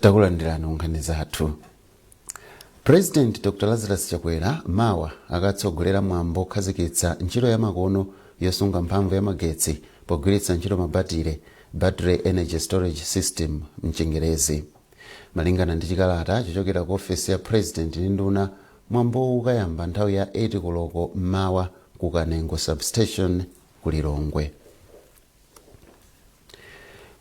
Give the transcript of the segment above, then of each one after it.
takulandirani ku nkhani zathu president dr lazarus chakwera mawa akatsogolera mwambo okhazikitsa ntchito yamakono yosunga mphamvu ya magetsi pogwiritsa ntchito mabatire battery energy storage system mchingerezi malingana ndi chikalata chochokera ku ofesi ya president ndi nduna mwambowu ukayamba nthawi ya 8 koloko mmawa ku kanengo substation ku lilongwe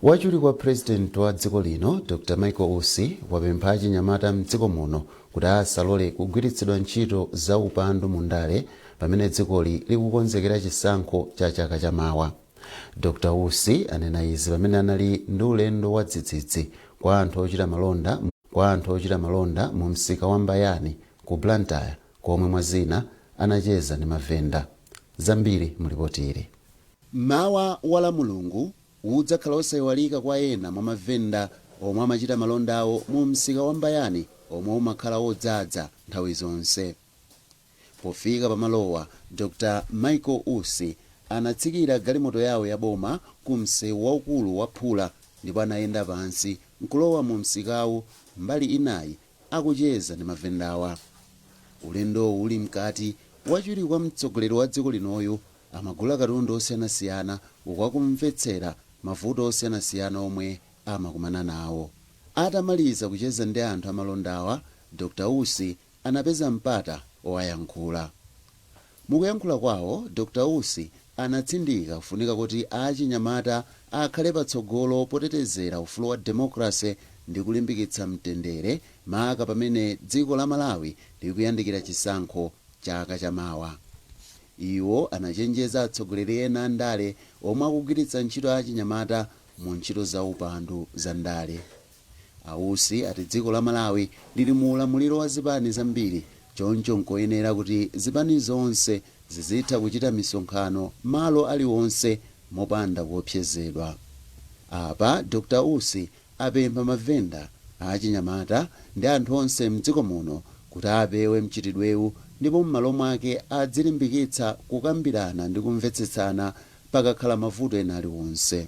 Wachiwiri kwa President wa dziko lino Dr Michael Usi wapempha achinyamata mdziko muno kuti asalole kugwiritsidwa ntchito za upandu mu ndale pamene dzikoli likukonzekera chisankho cha chaka cha mawa. Dr Usi anena izi pamene anali ndi ulendo wa dzidzidzi kwa anthu ochita malonda mu msika wa Mbayani ku Blantyre komwe mwa zina anacheza ndi mavenda. Zambiri mu lipoti ili. Mmawa wa Lamulungu udzakhala wosaiwalika kwa ena mwa mavenda omwe amachita malonda awo mu msika wa Mbayani omwe umakhala wodzadza nthawi zonse. Pofika pa malowa, Dr Michael Usi anatsikira galimoto yawo ya boma ku msewu waukulu wa phula ndipo anayenda pansi nkulowa mu msikawu mbali inayi akucheza ndi mavendawa. Ulendowu uli mkati, wachiwiri kwa mtsogoleri wa dziko linoyu Amagula katundu osiyanasiyana uku akumvetsera mavuto osiyanasiyana omwe amakumana nawo. Atamaliza kucheza ndi anthu amalondawa, Dr Usi anapeza mpata owayankhula. Mukuyankhula kwawo, Dr Usi anatsindika kufunika kuti achinyamata akhale patsogolo potetezera ufulu wa demokalase ndi kulimbikitsa mtendere maka pamene dziko la Malawi likuyandikira chisankho chaka chamawa. Iwo anachenjeza atsogoleri ena a ndale omwe akugwiritsa ntchito achinyamata mu ntchito za upandu za ndale. A Usi ati dziko la Malawi lili mu ulamuliro wa zipani zambiri choncho nkoyenera kuti zipani zonse zizitha kuchita misonkhano malo aliwonse mopanda kuopsezedwa. Apa Dr Usi apempha mavenda, achinyamata ndi anthu onse m'dziko muno kuti apewe mchitidwewu ndipo m'malo mwake adzilimbikitsa kukambirana ndi kumvetsetsana pakakhala mavuto ena aliwonse.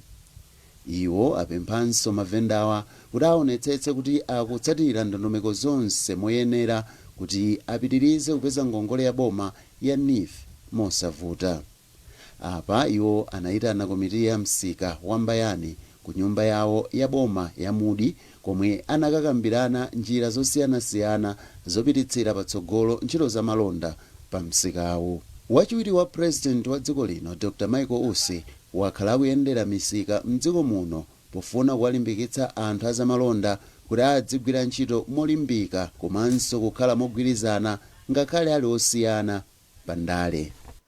Iwo apemphanso mavendawa kuti aonetsetse kuti akutsatira ndondomeko zonse moyenera kuti apitirize kupeza ngongole ya boma ya neef mosavuta. Apa iwo anaitana komiti ya msika wa Mbayani ku nyumba yawo ya boma ya Mudi komwe anakakambirana njira zosiyanasiyana zopititsira patsogolo ntchito za malonda pa msikawu. Wachiwiri wa President wa dziko lino Dr Michael Usi wakhala akuyendera misika m'dziko muno pofuna kuwalimbikitsa anthu a zamalonda kuti adzigwira ntchito molimbika komanso kukhala mogwirizana ngakhale ali osiyana pa ndale.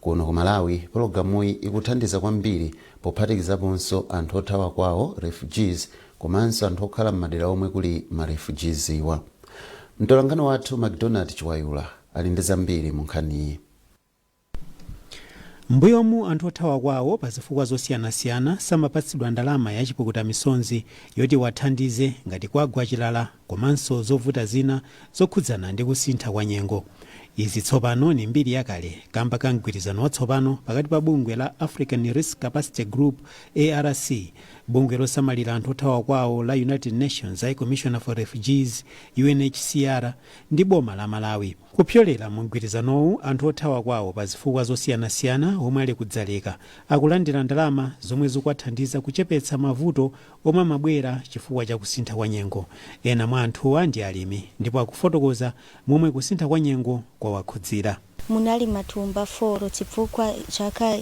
Kuno ku Malawi pologalamuyi ikuthandiza kwambiri pophatikizaponso anthu othawa kwawo, refugees, komanso anthu okhala m'madera omwe kuli ma refugees-wa. Mtolankhani wathu Macdonald Chiwayula ali ndi zambiri mu nkhaniyi. M'mbuyomu anthu othawa kwawo pa zifukwa zosiyanasiyana samapatsidwa ndalama ya chipukutamisonzi yoti iwathandize ngati kwagwa chilala komanso zovuta zina zokhudzana ndi kusintha kwa nyengo. Izi tsopano ni mbiri yakale kamba ka mgwirizano watsopano pakati pa bungwe la African Risk Capacity Group, ARC, bungwe losamalira anthu othawa kwawo la United Nations, High Commissioner for Refugees, UNHCR, ndi boma la Malawi. Kupyolera mu mgwirizanowu, anthu othawa kwawo pa zifukwa zosiyanasiyana omwe ali ku Dzaleka akulandira ndalama zomwe zikuwathandiza kuchepetsa mavuto omwe amabwera chifukwa cha kusintha kwa nyengo. Ena mwa anthuwa ndi alimi ndipo akufotokoza momwe kusintha kwa nyengo kwawakhudzira. Munali matumba foro chifukwa chaka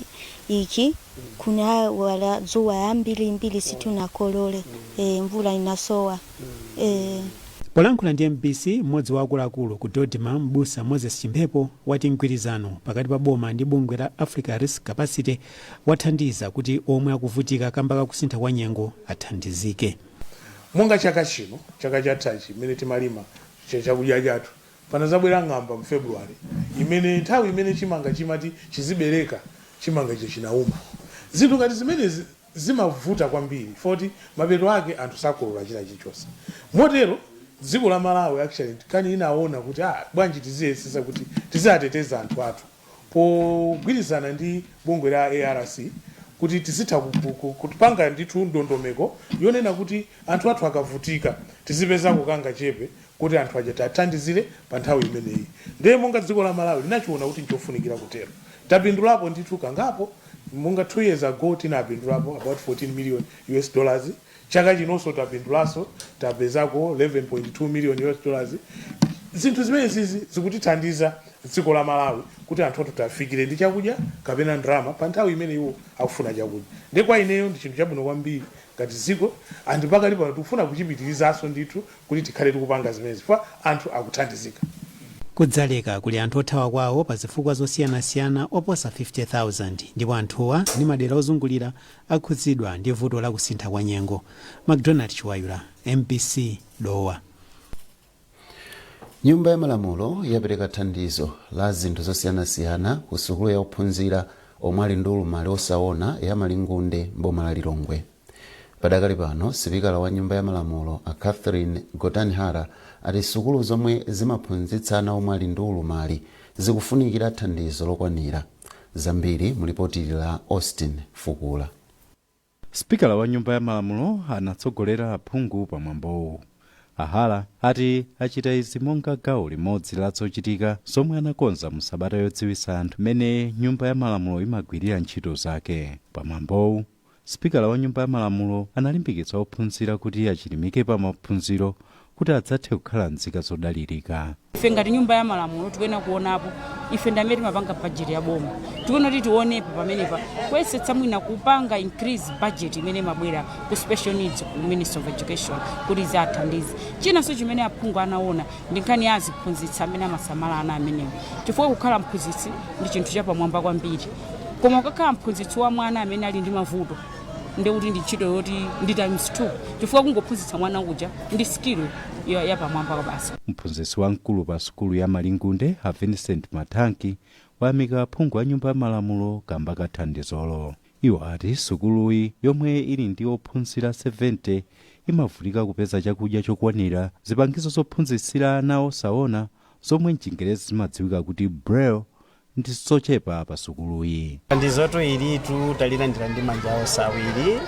ichi kunawala dzuwa yambirimbiri situnakolole e, mvula inasowa e. Polankhula ndi mbc, mmodzi wa akuluakulu ku DoDMA m'busa Moses Chimphepo wati mgwirizano pakati pa boma ndi bungwe la Africa Risk Capacity wathandiza kuti omwe akuvutika kamba ka kusintha kwa nyengo athandizike. Monga chaka chino, chaka chathachi mmene timalima chakudya chathu panazabwera ng'amba mu February imene nthawi imene chimanga chimati chizibereka chimanga chija chinauma. Zinthu ngati zimenezi zimavuta kwambiri poti mapeto ake anthu sakolola china chilichonse. Motero dziko la Malawi actually kani inaona kuti aah bwanji tiziyesesa kuti tiziateteza anthu athu. pogwirizana ndi bungwe la ARC kuti tizitha kupanga ndithu ndondomeko yonena kuti anthu athu akavutika tizipezako kangachepe koti anthu aja tiathandizire pa nthawi imeneyi ndiye monga dziko la Malawi linachiona kuti nchofunikira kutero tapindulapo ndithu kangapo monga 2 years ago tinapindulapo about 14 million US dollars Chaka chinoso tapindulaso tapezako 11.2 million US dollars zinthu zimenezizi zikutithandiza dziko la Malawi kuti anthu athu tiafikire ndi chakudya kapena ndalama pa nthawi imene iwo akufuna chakudya nde kwa ineyo ndi chinthu chabwino kwambiri ngati dziko and pakali pano tikufuna kuchipitilizaso ndithu kuti tikhale tikupanga zimenezi ifa anthu akuthandizika. Ku Dzaleka kuli anthu othawa kwawo pa zifukwa zosiyanasiyana oposa 50,000 ndipo anthuwa ndi madera ozungulira akhudzidwa ndi vuto la kusintha kwa nyengo. Macdonald Chiwayula, mbc, Dowa. Nyumba ya Malamulo yapereka thandizo la zinthu zosiyanasiyana ku sukulu ya ophunzira omwe ali ndi ulumali osaona ya Malingunde m'boma la Lilongwe. Padakali pano, sipikala wa Nyumba ya Malamulo a Catherine Gotani Hara ati sukulu zomwe zimaphunzitsa ana omwe ali ndi ulumali zikufunikira thandizo lokwanira. zambiri mu lipoti la Austin Fukula. Sipikala wa nyumba ya malamulo anatsogolera aphungu pa mwambowu. A Hara ati achita izi monga gawo limodzi la zochitika zomwe anakonza mu sabata yodziwitsa anthu mmene nyumba ya malamulo imagwirira ntchito zake. Pa mwambowu, Sipikala wa Nyumba ya Malamulo analimbikitsa ophunzira kuti achilimike pa maphunziro kuti adzathe kukhala nzika zodalirika. Ife ngati Nyumba ya Malamulo tikuyenera kuonapo, ife ndi amene timapanga budget ya boma, tikuyenera kuti tionepo pamenepa kuyesetsa mwina kupanga increase budget imene imabwera ku special needs ku Ministry of Education kuti iziathandize. Chinanso chimene aphungu anaona ndi nkhani ya aziphunzitsi amene amasamala ana amenewa chifukwa kukhala mphunzitsi ndi chinthu chapamwamba kwambiri. koma ukakhala mphunzitsi wa mwana amene ali ndi mavuto ndiye kuti ndi ntchito yoti ndi times 2 chifukwa kungophunzitsa mwana uja ndi skill ya- yapamwamba kwa basi mphunzitsi wamkulu pa sukulu ya malingunde a vincent mathanki wayamika aphungu a nyumba ya malamulo kamba ka thandizolo iwo ati sukuluyi yomwe ili ndi ophunzira 70 imavutika kupeza chakudya chokwanira zipangizo zophunzitsira ana osaona zomwe mchingerezi zimadziwika kuti braille ndi zochepa pa sukuluyi. Thandizoto ilitu talilandira ndi manja onse awiri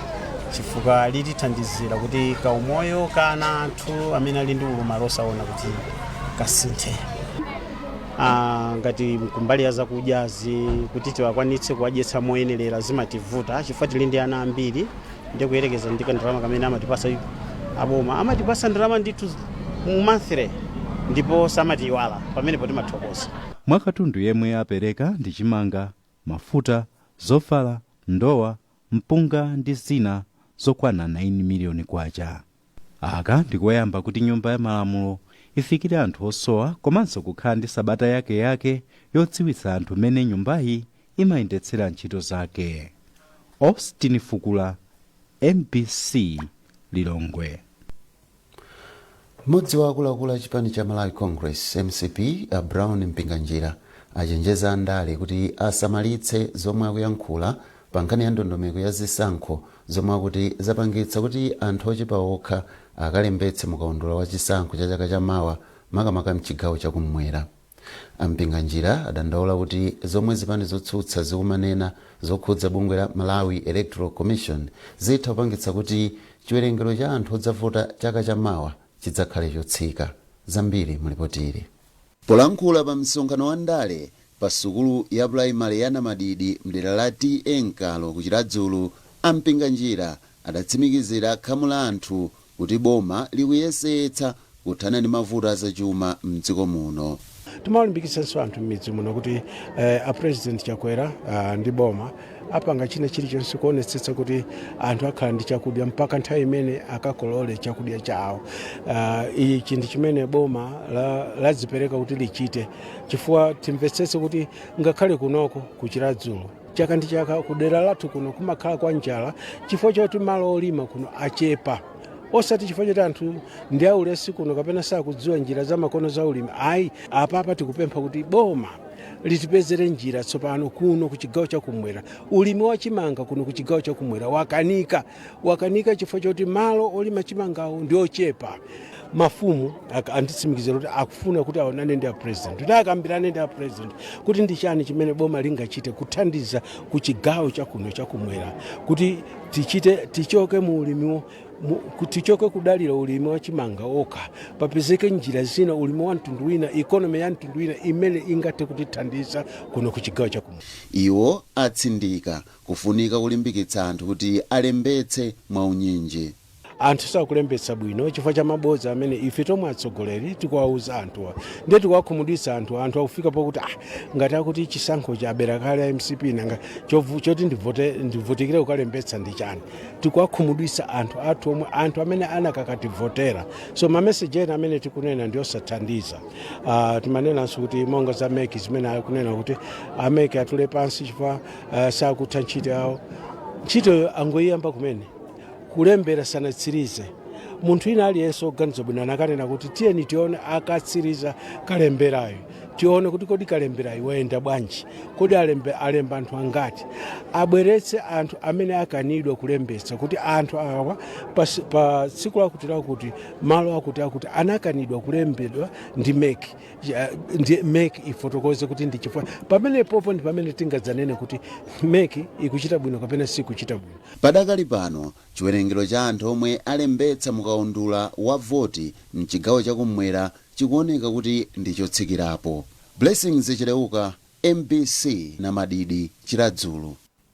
chifukwa litithandizira kuti kaumoyo ka ana athu amene ali ndi ulumali osaona kuti kasinthe. Ah, ngati nkumbali ya zakudyazi kuti tiwakwanitse kuwadyetsa moyenerera zimativuta chifukwa tili ndi ana ambiri ndi kuyerekeza ndi kandalama kamene amatipasa aboma amatipasa ndalama ndithu monthly ndipo samatiiwala pamenepo timathokoza. Mwa katundu yemwe apereka ndi chimanga, mafuta, zovala, ndowa, mpunga ndi zina zokwana 9 miliyoni kwacha. Aka ndi koyamba kuti Nyumba ya Malamulo ifikire anthu osowa komanso kukhala ndi sabata yakeyake yodziwitsa anthu mmene nyumbayi imayendetsera ntchito zake. Austin Fukula, MBC, Lilongwe. Mmodzi wa akuluakulu a chipani cha Malawi Congress, MCP, a Brown Mpinganjira achenjeza andale kuti asamalitse zomwe akuyankhula pa nkhani ya ndondomeko ya zisankho zomwe akuti zapangitsa kuti anthu ochepa okha akalembetse mu kaundula wa chisankho cha chaka cha mawa makamaka mchigawo cha kummwera. A Mpinganjira adandaula kuti zomwe zipani zotsutsa zikumanena zokhudza bungwe la Malawi Electoral Commission zitha kupangitsa kuti chiwerengero cha anthu odzavota chaka cha mawa chidzakhale chotsika. Zambiri mu lipoti ili. Polankhula pa msonkhano wa ndale pa sukulu ya pulaimale ya Namadidi mdera la TA Nkalo ku Chiradzulu, a Mpinganjira adatsimikizira khamu la anthu kuti boma likuyesetsa kuthana ndi mavuto azachuma m'dziko muno. Timawalimbikitsanso anthu m'midzi muno kuti eh, a President Chakwera ah, ndi boma apanga china chilichonse kuonetsetsa kuti anthu akhala ndi chakudya mpaka nthawi imene akakolole chakudya chawo. Ah, Ichi chinthu chimene boma la- ladzipereka kuti lichite chifukwa timvetsetse kuti ngakhale kunoko ku Chiradzulu chaka ndi chaka kudera lathu kuno kumakhala kwa njala chifukwa choti malo olima kuno achepa osati chifukwa choti anthu ndi aulesi kuno kapena sakudziwa njira zamakono za ulimi ayi apapa tikupempha kuti boma litipezere njira tsopano kuno ku chigawo chakumwera ulimi wa chimanga kuno ku chigawo chakumwera wakanika wakanika chifukwa choti malo olima chimangawo ndi ochepa mafumu ak- anditsimikizira kuti akufuna kuti aonane ndi a president kuti akambirane ndi a president kuti ndi chani chimene boma lingachite kuthandiza ku chigawo chakuno chakumwera kuti tichite tichoke mu ulimiwo mu- ku- tichoke kudalira ulimi wa chimanga okha papezeke njira zina ulimi wa mtundu wina ikonomi ya mtundu wina imene ingathe kutithandiza kuno ku chigawo chakumwera iwo atsindika Kufunika kulimbikitsa anthu kuti alembetse mwaunyinji. Anthu sakulembetsa bwino chifukwa cha mabodza amene ife tomwe atsogoleri tikuwauza anthuwa. Ndiye tikuwakhumudwitsa anthuwa. Anthu akufika pokuti ah ngati akuti chisankhochi abera kale a MCP nanga chovu, choti ndivote, ndivutikire kukalembetsa ndi chani? Tikuwakhumudwitsa anthu athu omwe, anthu amene anakakativotera. So mameseji ena amene tikunena ndi osathandiza. Ah timanenanso kuti monga za MEC zimene akunena kuti a MEC atule pansi chifukwa uh, sakutha ntchito yawo ntchitoyo angoyiyamba kumene kulembera sanatsirize munthu ina aliyense oganiza bwino anakanena kuti tiyeni tione akatsiriza kalemberayo tione kuti kodi kalemberayo wayenda bwanji kodi alembe, alemba anthu angati abweretse anthu amene akanidwa kulembetsa kuti anthu awa pa, pa tsiku lakuti lakuti malo akuti akuti anakanidwa kulembedwa ndi mec ya- ndi mec ifotokoze kuti ndi chifukwa pamene popo ndi pamene tingadzanene kuti mec ikuchita bwino kapena sikuchita bwino Padakali pano, chiwerengero cha anthu omwe alembetsa mukaundula wa voti mchigawo chakumwera chikuoneka kuti ndi chotsikirapo. Blessings Chileuka, MBC Namadidi, Chiradzulu.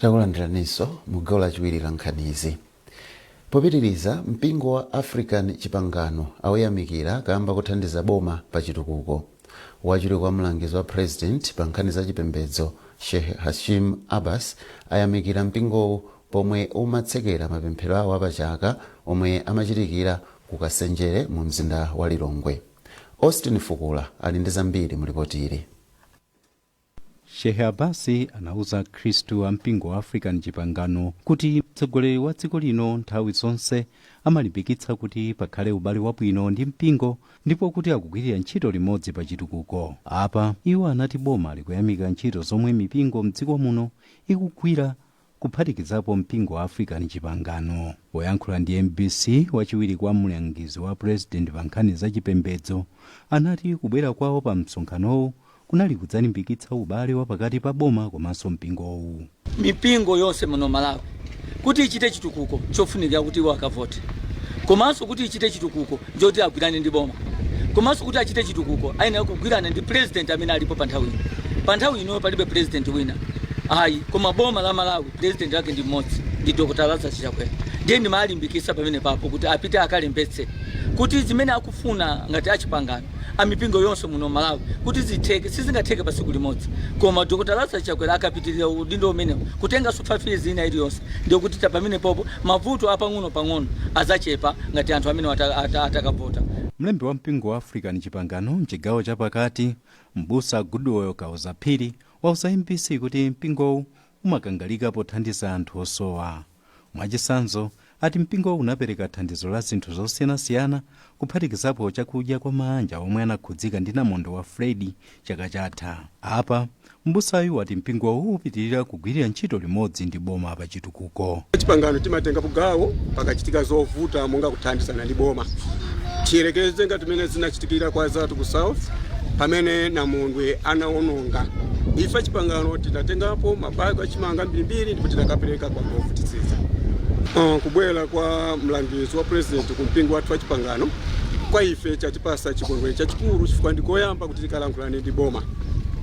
takulandiraninso mu gawo lachiwiri la nkhanizi popitiriza mpingo wa african chipangano auyamikira kamba kothandiza boma pa chitukuko wachiwiri kwa mlangizi wa president pa nkhani za chipembedzo sheikh hashim abbas ayamikira mpingowu pomwe umatsekera mapemphero awo apachaka omwe amachitikira ku nsenjere mu mzinda wa lilongwe austin fukula ali ndi zambiri mu lipoti ili Shehe Abbas anauza akhristu a mpingo wa African Chipangano kuti mtsogoleri wa dziko lino nthawi zonse amalimbikitsa kuti pakhale ubale wabwino ndi mpingo ndipo kuti akugwirira ntchito limodzi pa chitukuko. Apa, iwo anati boma likuyamika ntchito zomwe mipingo mdziko muno ikugwira kuphatikizapo mpingo wa African Chipangano. Poyankhula ndi mbc, wachiwiri kwa mlangizi wa president pa nkhani za chipembedzo anati kubwera kwawo pa msonkhanowu kunali kudzalimbikitsa ubale wa pakati pa boma komanso mpingowu. mipingo yonse muno Malawi kuti ichite chitukuko chofunikira kuti iwo akavote komanso kuti ichite chitukuko njoti agwirane ndi boma. Komanso kuti achite chitukuko ayenera kugwirana ndi president amene alipo pa nthawi ino. Pa nthawi ino palibe president wina ayi koma boma la Malawi president wake ndi mmodzi ndi Dr. Lazarus Chakwera. Ndiye ndimalimbikitsa pamenepapo kuti apite akalembetse kuti zimene akufuna ngati achipangano amipingo yonse muno Malawi kuti zitheke sizingatheke pa tsiku limodzi koma Dr. Lazarus Chakwera akapitirira udindo umenewu kutenganso 5 years ina iliyonse ndiye kuti pamenepopo Mavuto a pang'onopang'ono adzachepa ngati anthu amenewa atakavota. Mlembi wa mpingo wa African Chipangano m'chigawo cha pakati, m'busa Goodwell Kaoza Phiri wauza mbc kuti mpingowu umakangalika pothandiza anthu osowa. Mwachitsanzo, ati mpingowu unapereka thandizo la zinthu zosiyanasiyana kuphatikizapo chakudya kwa maanja omwe anakhudzika ndi namondwe wa Freddy chaka chatha. Apa. M'busayu ati mpingowu upitilira kugwirira ntchito limodzi ndi boma pa chitukuko. Achipangano timatengapo gawo pakachitika zovuta monga kuthandizana ndi boma. Tiyerekeze ngati mmene zinachitikira kwa azathu ku South pamene namondwe anawononga. Ife achipangano tinatengapo ma bag achimanga ambirimbiri ndipo tinakapereka kwa anthu ovutitsitsa. Kubwera kwa mlangizi wa president ku mpingo wathu wachipangano kwa ife chatipasa chikondwerero chachikulu chifukwa ndikoyamba kuti. Kalankhulane ndi boma.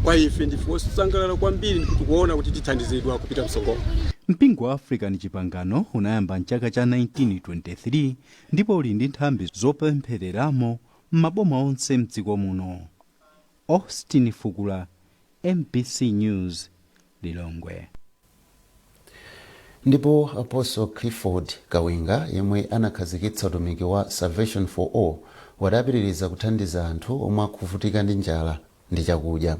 Kwa ife ndife osangalala kwambiri ndipo tikuona kuti tithandizidwa kupita mtsogolo. Mpingo wa African Chipangano unayamba m'chaka cha 1923 ndipo uli ndi nthambi zopemphereramo m'maboma onse m'dziko muno. Austin Fukula, mbc News, Lilongwe. Ndipo Apostle Clifford Kawinga yemwe anakhazikitsa utumiki wa Salvation for All wati apitiriza kuthandiza anthu omwe akuvutika ndi njala ndi chakudya.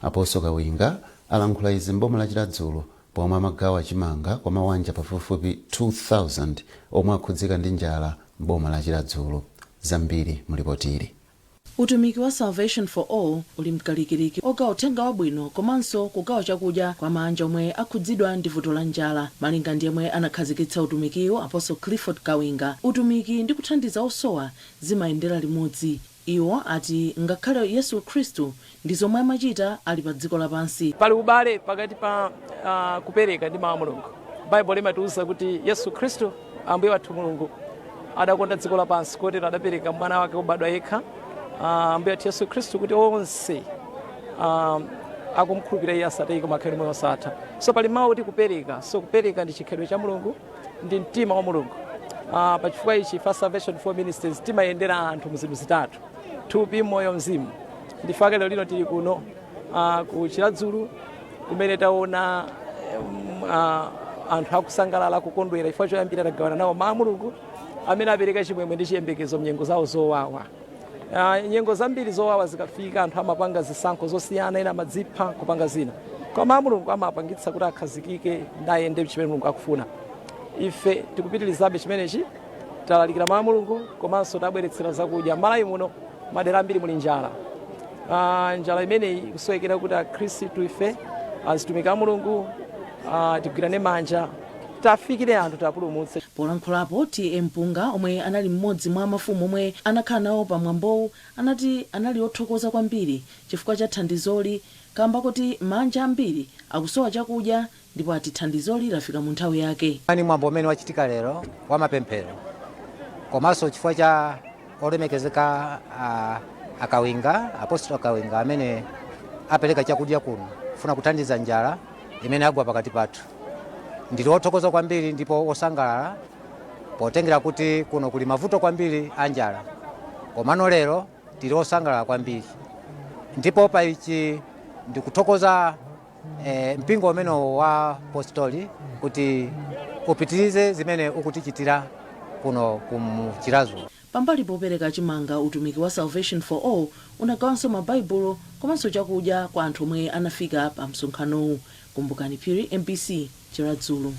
Apostle Kawinga alankhula izi m'boma la Chiradzulu pomwe amagawa chimanga kwa mawanja pafupifupi 2,000 omwe akhudzika ndi njala m'boma la Chiradzulu. Zambiri mu lipotili. Utumiki wa Salvation for All uli mkalikiliki ogawa uthenga wabwino komanso kugawa chakudya kwa maanja omwe akhudzidwa ndi vuto la njala. Malinga ndi yemwe anakhazikitsa utumikiwu Apostle Clifford Kawinga, utumiki ndi kuthandiza osowa zimayendera limodzi. Iwo ati ngakhale Yesu Khristu Ndi zomwe amachita ali pa dziko lapansi. Pali ubale pakati pa ah, kupereka ndi mawu a Mulungu. Baibulo limatiuza kuti Yesu Khristu, Ambuye wathu Mulungu, adakonda dziko lapansi kotero adapereka mwana wake wobadwa yekha, ah, Ambuye wathu Yesu Khristu, kuti onse ah, akumkhulupirira iye asatayike koma akhale ndi moyo wosatha. So pali mawu kuti kupereka. So kupereka ndi chikhalidwe cha Mulungu. ndi mtima wa mulungu uh, pachifukwa ichi ife a salvation for ministries timayendera anthu mu zinthu zitatu thupi moyo mzimu ndi chifukwa chake lero lino tili kuno uh, ku chiradzulu kumene taona um, uh, anthu akusangalala kukondwera chifukwa choyambira tagawana nawo mawu a mulungu amene apereka chimwemwe ndi chiyembekezo mnyengo zawo zowawa Ah, nyengo zambiri zowawa zikafika anthu amapanga zisankho zosiyana ena amadzipha kupanga zina koma mawu a mulungu amapangitsa kuti akhazikike ndayende chimene mulungu akufuna ife tikupitirizabe chimenechi talalikira mawu a mulungu komanso tabweretsera zakudya malawi muno madera ambiri muli njala Ah, njala imeneyi ikusowekera kuti akhristu ife azitumiki a mulungu ah, tigwirane manja tafikire anthu tapulumutse. Polankhulapo TA Mpunga omwe anali mmodzi mwa mafumu omwe anakhala nawo pa mwambowu anati anali othokoza kwambiri chifukwa cha thandizoli kamba koti maanja ambiri akusowa chakudya ndipo ati thandizoli lafika mu nthawi yake. Mwambo umene wachitika lero wa mapemphero komanso chifukwa cha. Olemekezeka a a Kawinga apostle a Kawinga amene apereka chakudya kuno kufuna kuthandiza njala imene agwa pakati pathu. Ndili othokoza kwambiri ndipo osangalala potengera kuti kuno kuli mavuto kwambiri a njala. Komano lero tili osangalala kwambiri ndipo pa ichi ndikuthokoza e, mpingo umenewo wa apostoli kuti upitirize zimene ukutichitira kuno ku Chiradzulu pambali popereka chimanga utumiki wa salvation for all unagawanso mabaibulo komanso chakudya kwa anthu omwe anafika pa msonkhanowu kumbukani phiri mbc chiradzulu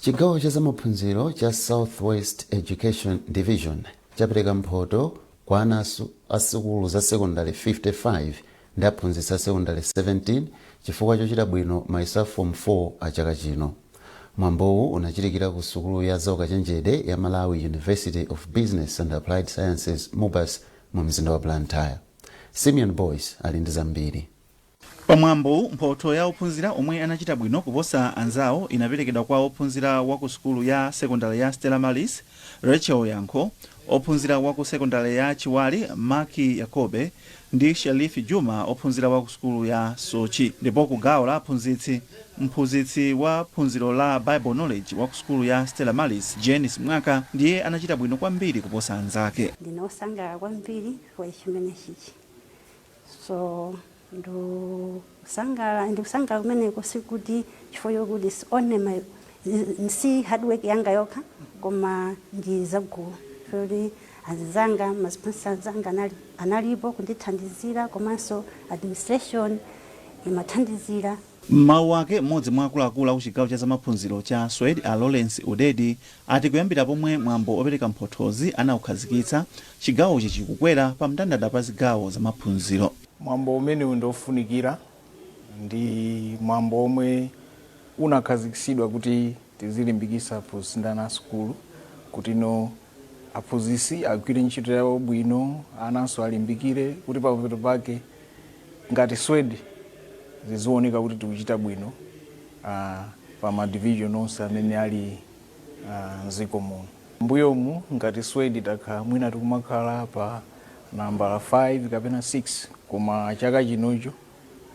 chigawo cha zamaphunziro cha southwest education division chapereka mphoto kwa ana asu- a sukulu za sekondale 55 ndi aphunzitsi a sekondale 17 chifukwa chochita bwino mayeso a form 4 a chaka chino mwambowu unachitikira ku sukulu ya zaukachenjede ya malawi university of business and applied sciences mubas mu mzinda wa blantyre simeon boyce ali ndi zambiri Pa mwambowu, mphotho ya ophunzira omwe anachita bwino kuposa anzawo inaperekedwa kwa ophunzira wa ku sukulu ya sekondale ya Stella Maris, Rachel Yankho, ophunzira wa ku sekondale ya Chiwale, Mark Yakobe, ndi Sherif Juma, ophunzira wa ku sukulu ya Soche. Ndipo ku gawo la aphunzitsi, mphunzitsi wa phunziro la Bible Knowledge wa ku sukulu ya Stella Maris, Jane Simwaka, ndiye anachita bwino kwambiri kuposa anzake. Ndine wosangalala kwambiri chifukwa cha chimenechichi. So ndikusangalala ndikusangalala kumeneko sikuti chifukwa chokuti it's only my si hard work yanga yokha koma ndi zagulu chifukwa choti anzanga masponsa azanga anali, analipo kundithandizira komanso administration imathandizira M'mawu ake, m'modzi mwa akuluakulu a ku chigawo cha zamaphunziro cha Swed a Lawrence Udedi ati kuyambira pomwe mwambo opereka mphothozi anaukhazikitsa, chigawochi chikukwera pa mndandanda pa zigawo za maphunziro. Mwambo umenewu ndi ofunikira, ndi mwambo omwe unakhazikitsidwa kuti tizilimbikitsa aphunzitsi ndi ana a sukulu kutino aphunzitsi agwire ntchito yawo bwino, ananso alimbikire kuti pamapeto pake, ngati swed zizioneka kuti tikuchita bwino uh, pa ma division onse amene ali uh, mdziko muno mbuyomu ngati swed takhala mwina tikumakhala pa nambala 5 kapena 6 koma chaka chinocho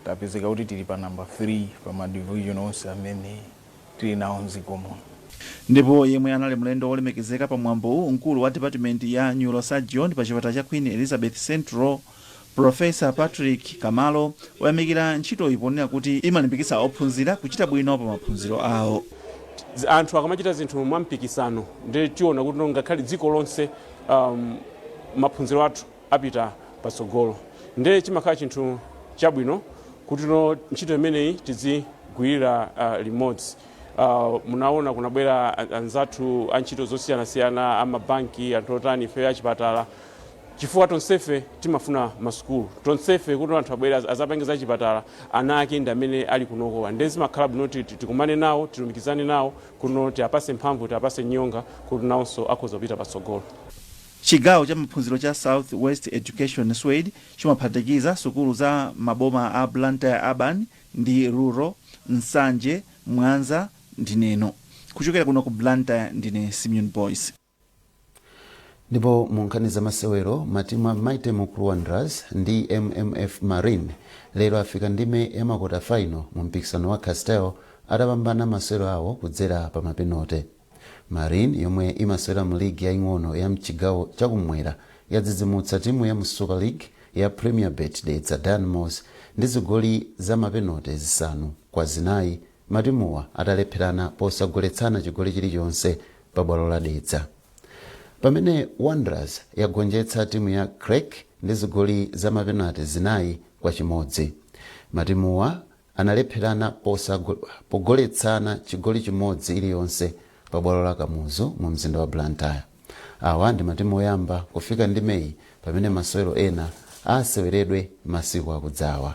tapezeka kuti tili pa namba 3 pa ma division onse amene tili nawo mdziko muno ndipo yemwe anali mlendo wolemekezeka pa mwambowu mkulu wa dipatimenti ya neurosurgeon pa chipatala cha queen elizabeth central Pulofesa Patrick Kamalo wayamikira ntchitoyi ponena kuti imalimbikitsa ophunzira kuchita bwino pa maphunziro awo. Anthu akamachita zinthu mwampikisano ndiye tiona kuti ngakhale dziko lonse um, maphunziro athu apita patsogolo ndiye chimakhala chinthu chabwino kuti ntchito imeneyi tidzigwirira uh, limodzi uh, munaona kunabwera anzathu a ntchito zosiyanasiyana amabanki anthu otani ifeyo achipatala Chifukwa tonsefe timafuna ma sukulu, tonsefe kuti anthu abwere azapange za chipatala, ana ake ndi amene ali kunokowa nde zimakhala bwino kuti tikumane nawo, tilumikizane nawo kuno, tiapase mphamvu, tiapase nyonga kuti nawonso akhoza kupita patsogolo. Chigawo cha maphunziro cha South West Education, Swed, chimaphatikiza sukulu za maboma a Blantyre Urban ndi Rural, Nsanje, Mwanza ndi Neno. Kuchokera kuno ku Blantyre ndine Simeon Boyce. ndipo mu nkhani za masewero matimu a mighty mukuru wanderers ndi mmf marine lero afika ndime ya makota final mu mpikisano wa castel atapambana masewero awo kudzera pa mapenote marine yomwe imasewera mu ligi yaing'ono ya mchigawo chakumwera yadzidzimutsa timu ya mu super league ya premier bet dedza dynamos ndi zigoli za mapenote zisanu kwa zinayi Matimuwa atalepherana posagoletsana chigoli chilichonse pa bwalo la Dedza. Pamene Wanderers yagonjetsa timu ya Creck ndi zigoli za mapenate zinayi kwa chimodzi. Matimuwa analepherana pogoletsana chigoli chimodzi iliyonse pa bwalo la Kamuzu mu mzinda wa Blantyre. Awa ndi matimu oyamba kufika ndimeyi pamene masewero ena aseweredwe masiku akudzawa.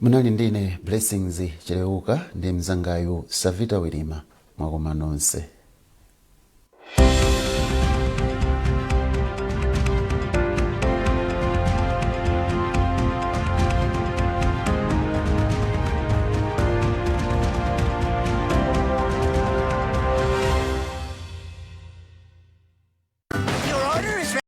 Munali ndi ine Blessings Cheleuka ndi mnzangayu Savita Wirima. Mwakoma nonse.